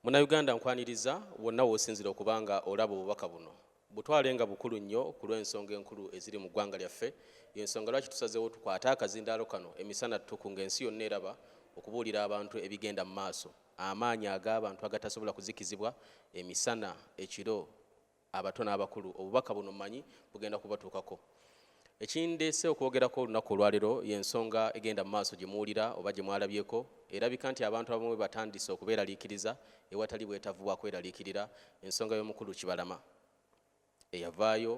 Munnayuganda nkwaniriza wonna w'osinzira okuba nga olaba obubaka buno. Butwale nga bukulu nnyo ku lw'ensonga enkulu eziri mu ggwanga lyaffe, y'ensonga lwaki tusazeewo tukwate akazindaalo kano emisana ttuku ng'ensi yonna eraba okubuulira abantu ebigenda mu maaso, amaanyi ag'abantu agatasobola kuzikizibwa, emisana, ekiro, abato n'abakulu obubaka buno manyi bugenda kubatuukako ekindeese okwogerako olunaku olwalero yensonga egenda mu maaso gye muwulira oba gye mwalabyeko erabika nti abantu abamu batandise okubeeraliikiriza ewatali bwetavu bwa kweraliikirira ensonga y'omukulu kibalama eyavaayo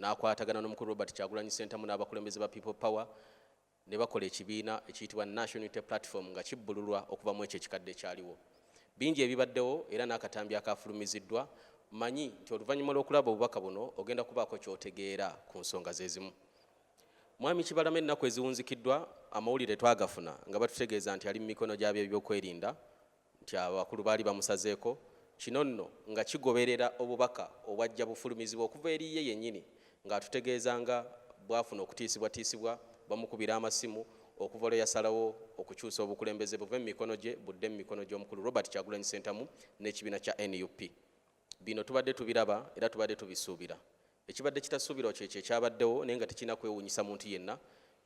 n'akwatagana n'omukulu robert kyagulanyi sentamu n'abakulembeze ba people power ne bakola ekibiina ekiyitibwa National Unity Platform nga kibbululwa okuva mu ekyo ekikadde ekyaliwo. Bingi ebibaddewo era n'akatambi akaafulumiziddwa, mmanyi nti oluvannyuma lw'okulaba obubaka buno ogenda kubaako ky'otegeera ku nsonga ze zimu. Mwami Kibalama ennaku eziwunzikiddwa amawulire twagafuna nga batutegeeza nti ali mu mikono gy'abeebyokwerinda nti abakulu baali bamusazeeko kino nno nga kigoberera obubaka obwajja bufulumizibwa okuva eri ye yennyini ng'atutegeeza nga bwafuna okutiisibwatiisibwa bamukubira amasimu okuva lwe yasalawo okukyusa obukulembeze buve mu mikono gye budde mu mikono gy'omukulu Robert Kyagulanyi Ssentamu n'ekibiina kya nup. Bino tubadde tubiraba era tubadde tubisuubira Ekibadde kitasuubirwa kyekyo ekyabaddewo naye nga tekirina kwewuunyisa muntu yenna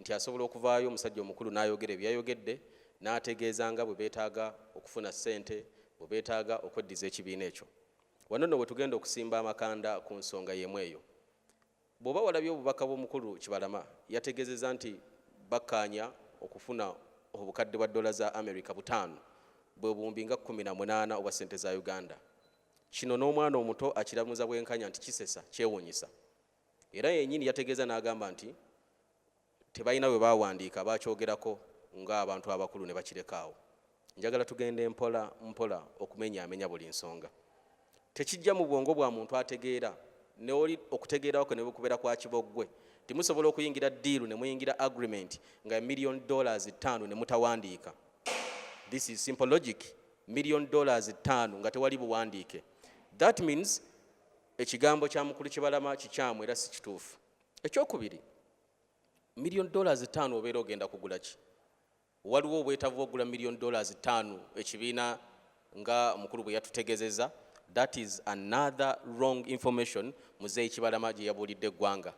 nti asobola okuvaayo omusajja omukulu n'ayogera bye yayogedde n'ategeeza nga bwe beetaaga okufuna ssente bwe beetaaga okweddiza ekibiina ekyo. Wano nno we tugenda okusimba amakanda ku nsonga y'emu eyo. Bw'oba walabye obubaka bw'omukulu Kibalama yategeezezza nti bakkaanya okufuna obukadde bwa ddoola za Amerika butaano bwe buwumbi nga kkumi na munaana obwa ssente za Uganda. Kino n'omwana omuto akiramuza bwenkanya nti kisesa, kyewuunyisa. Era yennyini yategeeza n'agamba nti tebalina bwe baawandiika baakyogerako ng'abantu abakulu ne bakireka awo. Njagala tugende mpola mpola okumenyaamenya buli nsonga. Tekijja mu bwongo bwa muntu ategeera neoli okutegeerawo kwe ne bwe kubeera kwa kiboggwe nti musobola okuyingira ddiiru ne muyingira agreement nga million dollars ttaano ne mutawandiika. This is simple logic million dollars ttaano nga tewali buwandiike that means ekigambo kya mukulu kibalama kikyamu era si kituufu ekyokubiri million dollars ttaano obeera ogenda kugula ki waliwo obwetavu ogula million dollars ttaano ekibiina nga mukulu bwe yatutegezeza that is another wrong information muzeeyi kibalama gye yabuulidde eggwanga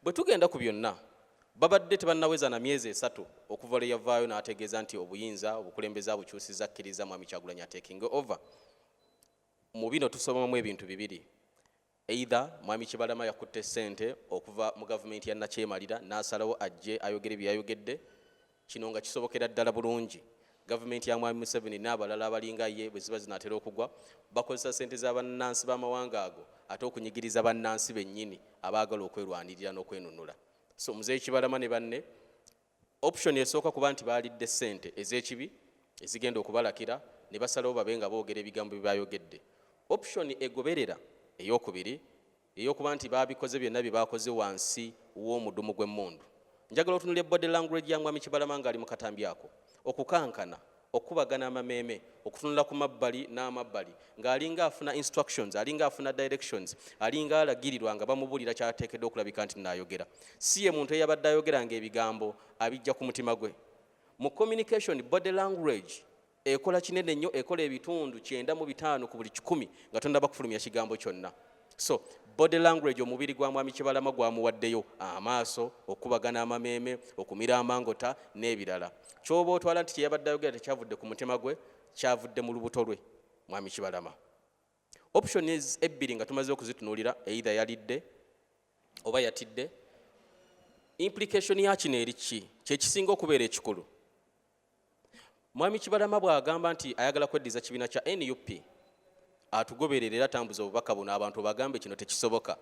Bwe tugenda ku byonna, babadde tebannaweza na myezi esatu okuva lwe yavaayo n'ategeeza nti obuyinza obukulembeze abukyusizza akkirizza Mwami Kyagulanyi ateekinge ova. Mu bino tusomamu ebintu bibiri. Either Mwami Kibalama yakutte ssente okuva mu gavumenti ya Nakyemalira n'asalawo ajje ayogere bye yayogedde Kino nga kisobokera ddala bulungi gavumenti ya Mwami Museveni n'abalala abalinga ye bwe ziba zinaatera okugwa bakozesa ssente za bannansi b'amawanga ago ate okunyigiriza bannansi bennyini abaagala okwerwanirira n'okwenunula. So Muzeeyi Kibalama ne banne option esooka kuba nti baalidde ssente ez'ekibi ezigenda okubalakira ne basalawo babe nga boogera ebigambo bye baayogedde. Option egoberera ey'okubiri Eyokuba nti baabikoze byonna bye baakoze wansi w'omudumu gw'emmundu. Njagala otunulire body language ya Mwami Kibalama ng'ali mu katambi ako. Okukankana, okukubagana amameeme, okutunula ku mabbali n'amabbali ng'alinga afuna instructions, alinga afuna directions, alinga alagirirwa nga bamubuulira ky'ateekeddwa okulabika nti naayogera. Si ye muntu eyabadde ayogera ng'ebigambo abijja ku mutima gwe. Mu communication, body language Ekola kinene nnyo, ekola ebitundu kyenda mu bitaano ku buli kikumi nga tonnaba kufulumya kigambo kyonna. So body language omubiri gwa mwami Kibalama gwamuwaddeyo amaaso, okukubagana amameeme, okumira amangota n'ebirala. Ky'oba otwala nti kye yabadde ayogera tekyavudde ku mutima gwe, kyavudde mu lubuto lwe mwami Kibalama. Options ebbiri nga tumaze okuzitunuulira, either yalidde oba yatidde. Implication ya kino eri ki? Kye kisinga okubeera ekikulu. Mwami Kibalama bw'agamba nti ayagala kweddiza kibiina kya nup atugoberere era tambuza obubaka buno abantu bagambe kino tekisoboka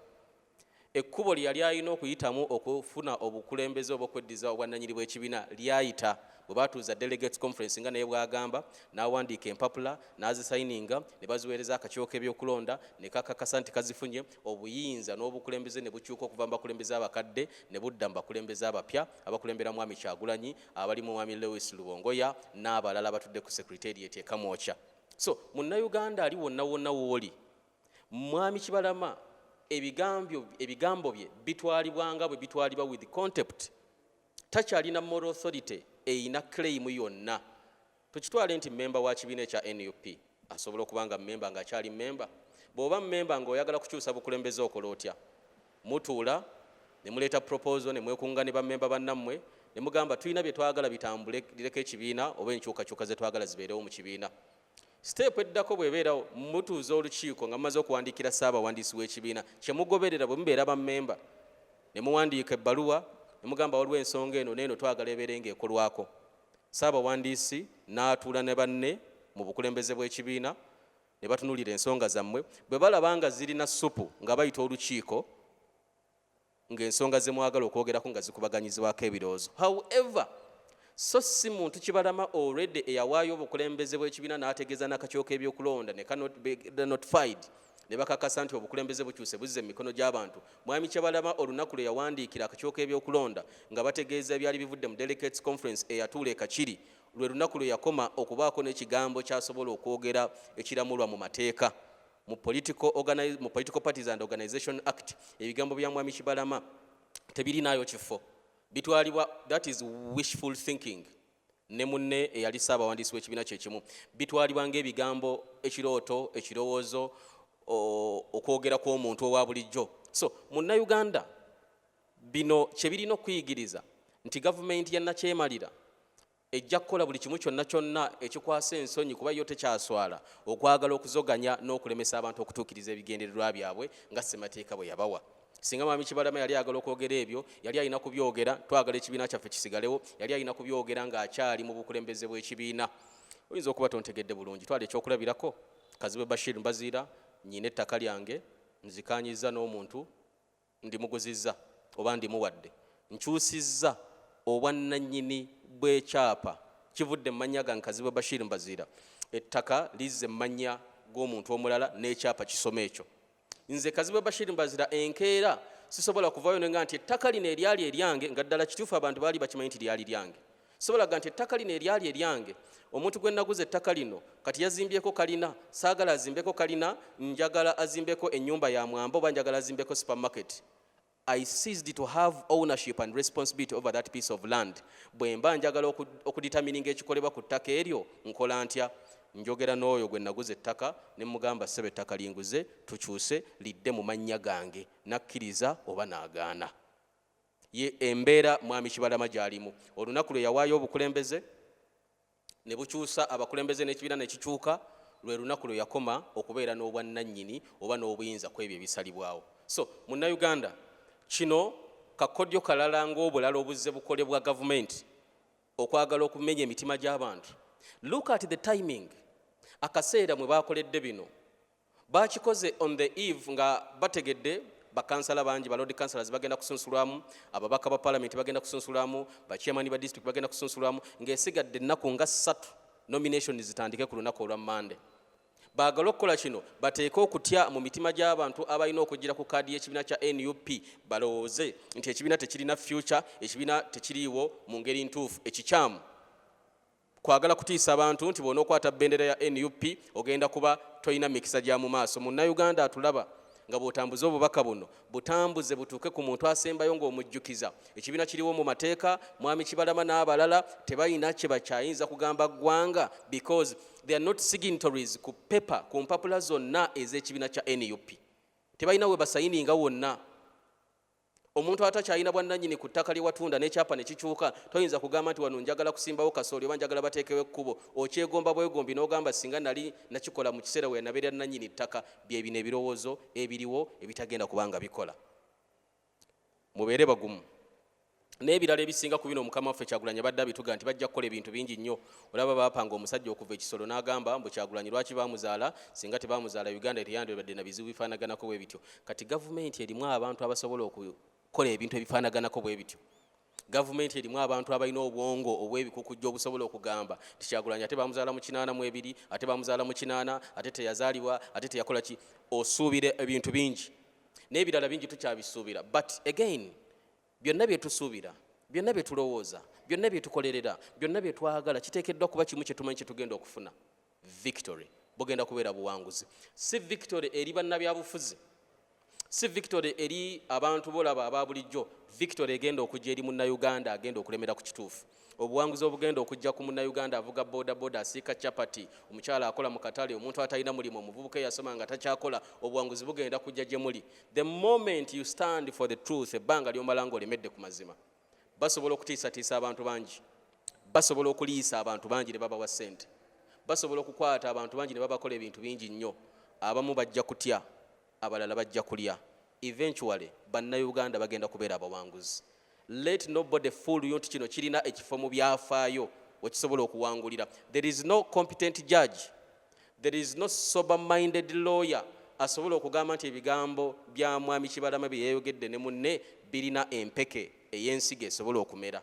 ekkubo lye yali alina okuyitamu okufuna obukulembeze oba okweddiza obwannanyini bw'ekibiina lyayita bwe batuuza delegates conference nga naye bwagamba n'awandiika empapula n'azisayininga ne baziweereza akakiiko k'ebyokulonda ne kakakasa nti kazifunye obuyinza n'obukulembeze ne bukyuka okuva mu bakulembeze abakadde ne budda mu bakulembeze abapya abakulembera mwami kyagulanyi abali mu mwami Lewis Lubongoya n'abalala batudde ku Secretariat e Kamwokya. So munnayuganda ali wonna wonna wooli, mwami Kibalama ebigambo bye bitwalibwa nga bwe bitwalibwa with contempt. Takyalina moral authority eyina claim yonna. Tukitwale nti mmemba wa kibiina ekya nup asobola okuba nga mmemba ng'akyali mmemba? Bw'oba mmemba ng'oyagala kukyusa bukulembeze okola otya? Mutuula ne muleeta proposal ne mwekunga ne bammemba bannammwe ne mugamba tulina bye twagala bitambule lireko ekibiina oba enkyukakyuka ze twagala zibeerewo mu kibiina. Siteepu eddako bw'ebeerawo mutuuza olukiiko nga mumaze okuwandiikira ssaabawandiisi w'ekibiina kye mugoberera bwe mubeera bammemba ne muwandiika ebbaluwa ne mugamba waliwo ensonga eno n'eno twagala ebeere ng'ekolwako Ssaabawandiisi n'atuula ne banne mu bukulembeze bw'ekibiina ne batunuulira ensonga zammwe. Bwe balaba nga zirina ssupu nga bayita olukiiko ng'ensonga ze mwagala okwogerako nga zikubaganyizibwako ebirowoozo. However, so si muntu kibalama already eyawaayo obukulembeze bw'ekibiina n'ategeeza n'akakiiko k'ebyokulonda ne kanotified. ne bakakasa nti obukulembeze bukyuse buzze mu mikono gy'abantu mwami kyabalama olunaku lwe yawandiikira akakiiko k'ebyokulonda nga bategeeza ebyali bivudde mu delegates conference eyatuula ekakiri lwe lunaku lwe yakoma okubaako n'ekigambo kyasobola okwogera ekiramulwa mu mateeka mu political, mu political parties and organization act ebigambo bya mwami kibalama tebirinaayo kifo bitwalibwa that is wishful thinking ne munne eyali ssaabawandiisi w'ekibiina kye kimu bitwalibwa ng'ebigambo ekirooto ekirowoozo okwogera kw'omuntu owa bulijjo so munnayuganda bino kye birina okuyigiriza nti gavumenti ya nakyemalira ejja kukola buli kimu kyonna kyonna ekikwasa ensonyi kuba yo tekyaswala okwagala okuzoganya n'okulemesa abantu okutuukiriza ebigendererwa byabwe nga ssemateeka bwe yabawa singa mwami kibalama yali ayagala okwogera ebyo yali alina kubyogera twagala ekibiina kyaffe kisigalewo yali alina kubyogera ng'akyali mu bukulembeze bw'ekibiina oyinza okuba tontegedde bulungi twala ekyokulabirako kazibwe bashir mbaziira nyina ettaka lyange nzikanyiza n'omuntu ndimuguzizza oba ndimuwadde nkyusizza obwannanyini bw'ekyapa kivudde mu mannya gange kazibwe bashir mbaziira ettaka lizze mu mannya g'omuntu omulala n'ekyapa kisoma ekyo Nze Kazibwe Bashir Mbazira enkeera sisobola kuvaayo ne nga nti ettaka lino eryali eryange nga ddala kituufu abantu baali bakimanyi nti lyali lyange sobola ga nti ettaka lino eryali eryange omuntu gwe naguza ettaka lino kati yazimbyeko kalina saagala azimbeko kalina njagala azimbeko ennyumba ya mwamba oba njagala azimbeko supermarket I ceased to have ownership and responsibility over that piece of land. Bwemba njagala okuditamininga ekikolebwa ku ttaka eryo nkola ntya? Njogera n'oyo gwe naguza ettaka ne mugamba ssebo ettaka linguze tukyuse lidde mu mannya gange nakkiriza oba naagaana. Ye embeera Mwami Kibalama gy'alimu olunaku lwe yawaayo obukulembeze. ne bukyusa abakulembeze n'ekibiina ne kikyuka lwe lunaku lwe yakoma okubeera n'obwannannyini oba n'obuyinza ku ebyo ebisalibwawo so munnayuganda kino kakodyo kalala ng'obulala obuzze bukolebwa gavumenti okwagala okumenya emitima gy'abantu look at the timing akaseera mwe baakoledde bino Baakikoze on the eve nga bategedde bakansala bangi ba lord councilors bagenda kusunsulwamu ababaka ba palamenti bagenda kusunsulwamu bachairman ba district bagenda kusunsulwamu ng'esigadde ennaku nga ssatu nomination zitandike ku lunaku olwa mande baagala okukola kino bateeke okutya mu mitima gy'abantu abalina okujjira ku kaadi y'ekibiina kya nup balowooze nti ekibiina tekirina fyuca ekibiina tekiriiwo mu ngeri ntuufu ekikyamu Kwagala kutiisa bantu nti bw'onookwata bendera ya nup ogenda kuba tolina mikisa gya mu maaso. Munnayuganda atulaba nga bw'otambuza obubaka buno, butambuze butuuke ku muntu asembayo ng'omujjukiza ekibiina kiriwo mu mateeka, Mwami Kibalama n'abalala tebalina kye bakyayinza kugamba ggwanga because they are not signatories ku paper, ku mpapula zonna ez'ekibiina kya nup. Tebalina we basayininga wonna. omuntu atakyalina bwannanyini ku ttaka lye watunda n'ekyapa ne kikyuka toyinza kugamba nti wano njagala kusimbawo kasooli oba njagala bateekewo ekkubo okyegomba bwegombi n'ogamba singa nali nakikola mu kiseera we yanabeera nnanyini ttaka bye bino ebirowoozo ebiriwo ebitagenda kubanga bikola mubeere bagumu n'ebirala ebisinga ku bino mukama waffe kyagulanyi abadde abituga nti bajja kukola ebintu bingi nnyo olaba bapanga omusajja okuva ekisolo n'agamba mbu kyagulanyi lwaki bamuzaala singa tebamuzaala uganda teyandibadde na bizibu bifaanaganako bwe bityo kati gavumenti erimu abantu abasobola okukola ebintu ebifaanaganako bwe bityo gavumenti erimu abantu abalina obwongo obw'ebikukujja obusobola okugamba nti kyagulanyi ate bamuzaala mu kinaana mu ebiri ate bamuzaala mu kinaana ate teyazaalibwa ate teyakola ki osuubira ebintu bingi n'ebirala bingi tukyabisuubira but again byonna bye tusuubira byonna bye tulowooza byonna bye tukolerera byonna bye twagala kiteekeddwa kuba kimu kye tumanyi kye tugenda okufuna victory bugenda kubeera buwanguzi si victory eri bannabyabufuzi si victory eri abantu bolaba aba bulijjo victory egenda okujja eri munnauganda agenda okulemera ku kituufu obuwanguzi obugenda okujja ku munnayuganda avuga bodaboda asiika chapati omukyala akola mu katale omuntu atalina mulimu omuvubuka eyasoma nga takyakola obuwanguzi bugenda kujja gye muli the moment you stand for the truth ebbanga lyomala nga olemedde ku mazima basobola okutiisatiisa abantu bangi basobola okuliisa abantu bangi ne babawa ssente basobola okukwata abantu bangi ne babakola ebintu bingi nnyo abamu bajja kutya Abalala bajja kulya. Eventually banna Uganda bagenda kubeera abawanguzi. Let no body fool you nti kino kirina ekifo mu byafaayo wekisobola okuwangulira. There is no competent judge. There is no sober minded lawyer asobola okugamba nti ebigambo bya Mwami Kibalama byeyayogedde ne munne birina empeke eyensigo esobola okumera.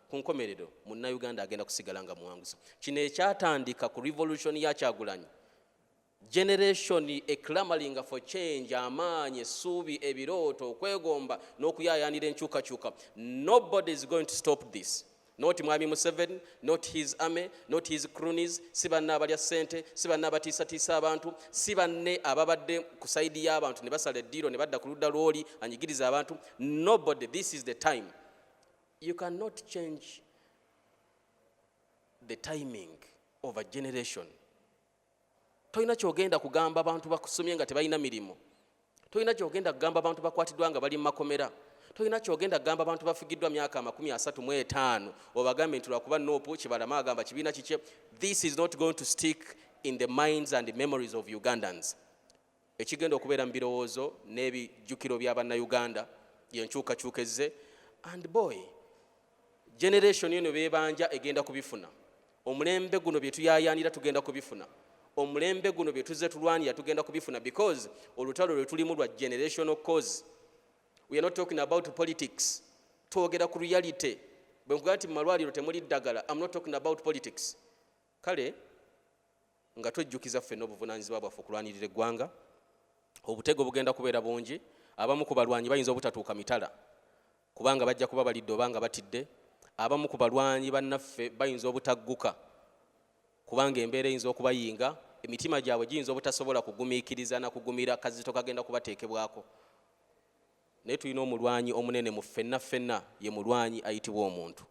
Ku nkomerero Munnayuganda agenda kusigala nga muwanguzi. Kino ekyatandika ku revolution ya Kyagulanyi generation eclamaringa for change amaanyi essuubi ebirooto okwegomba n'okuyayanira enkyukakyuka nobody is going to stop this not mwami museveni not his army not his cronies si banne abalya ssente si banne abatiisatiisa abantu si banne ababadde ku saidi y'abantu ne basala eddiiro ne badda ku ludda lw'oli anyigiriza abantu nobody this is the time You can not change the timing of a generation. Tolina kyogenda kugamba abantu bakusomye nga tebalina mirimu. Tolina kyogenda kugamba abantu bakwatiddwa nga bali mu makomera. Tolina kyogenda kugamba abantu bafigiddwa myaka amakumi asatu mu etaano obagambe nti lwakuba noopu kibalama agamba kibiina kikye. This is not going to stick in the minds and the memories of Ugandans. Ekigenda okubeera mu birowoozo n'ebi jjukiro bya banna Uganda ye nkyukakyuka ezze and boy generation eno bebanja egenda kubifuna omulembe guno byetuyayanira tugenda kubifuna omulembe guno byetuze tulwanira tugenda kubifuna because olutalo lwetulimu lwa generational cause we are not talking about politics twogera ku reality bwe nkugaa nti mu malwaliro temuli ddagala am not talking about politics Kale nga twejjukiza ffenna obuvunaanyizibwa bwaffe okulwanirira eggwanga, obutego bugenda kubeera bungi, abamu ku balwanyi bayinza obutatuuka mitala kubanga bajja kuba balidde oba nga batidde, abamu ku balwanyi bannaffe bayinza obutagguka kubanga embeera eyinza okubayinga, emitima gyabwe giyinza obutasobola kugumiikiriza na kugumira kazito kagenda kubateekebwako. Naye tulina omulwanyi omunene mu ffenna ffenna, ye mulwanyi ayitibwa omuntu.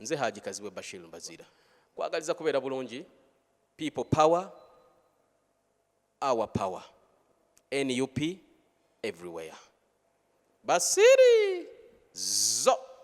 Nze Haji Kazibwe Bashir Mbaziira, kwagaliza kubeera bulungi. People power, our power. NUP everywhere. Basiri zo!